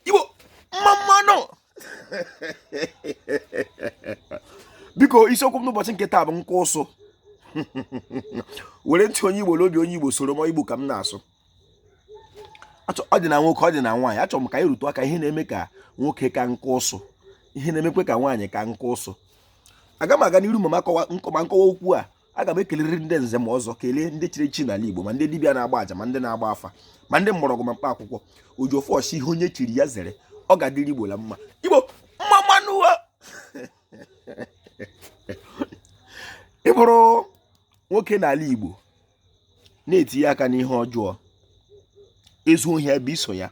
Igbo mma mma nụ biko isiokwu m n'ụbọchị nke taa bụ nka ụsụ were ntị onye Igbo n'obi onye Igbo soro m Igbo ka m na-asụ ọ dị na nwoke ọ dị na nwaanyị achọrọ m ka anyị rụtụ aka ihe na-eme ka nwoke ka nka ụsụ ihe na-emekwe ka nwaanyị ka nka ụsụ aga m aga n'iru ma nkọwa okwu a aga m ekelere ndị nze ma ọzọ kelee ndị chiri echi n'ala Igbo ma ndị dibịa na-agba aja ma ndị na-agba afa ma ndị mgbọrọgwụ ma mkpa akwụkwọ Ojiọfọ sị ihe onye chiri ya zere ọ ga-adịrị Igbo la mma Igbo mma mma nụ o ị bụrụ nwoke n'ala Igbo na-etinye aka n'ihe ọjọọ ezuo ohi a bịa i so ya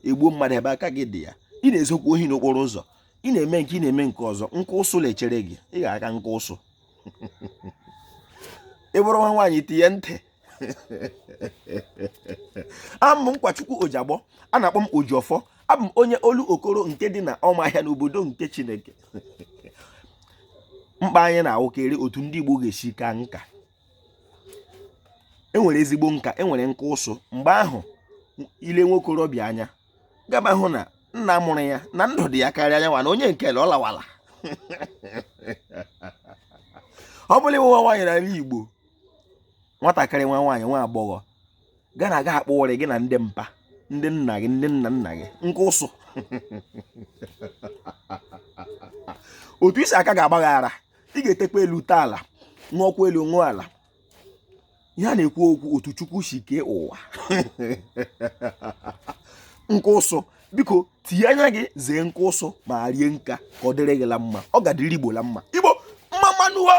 egbuo mmadụ a bịa aka gị dị ya ị na-ezukwa ohi n'okporo ụzọ ị na-eme nke a ị na-eme nke ọzọ nka ụsụ na-echere gị ị ga-aka nka ụsụ ị bụrụ nwa nwaanyị tinye ntị abụ m Nkwachukwu Ojiagbọ a na-akpọ m Ojiọfọ abụ m onye Olokoro nke dị na Ọmahịa n'obodo nke chineke mkpa anyị na-awụkarị otu ndị igbo ga-esi ka nka enwere ezigbo nka enwere nka ụsụ mgbe ahụ i lee nwokorobịa anya ga-ahụ na nna mụrụ ya na ndụ dị ya karịa ya nwa na onye nke ọ lawala ọ bụ la ị wụ nwa nwaanyị n'ala Igbo nwatakịrị nwa nwaanyị nwa agbọghọ gị na-aga akpa uri gị na ndị mpa ndị nna gị ndị nna nna gị nka ụsụ otu i si aka ga-agbaghara ị ga-etekwa elu tee ala ṅụọkwa elu ṅụọ ala ihe a na-ekwu okwu otu chukwu si kee ụwa nka ụsụ biko tinye anya gị zee nka ụsụ ma rie nka ka ọ dịrị gị la mma ọ ga-adịrị igbo la mma igbo mma mma nụ o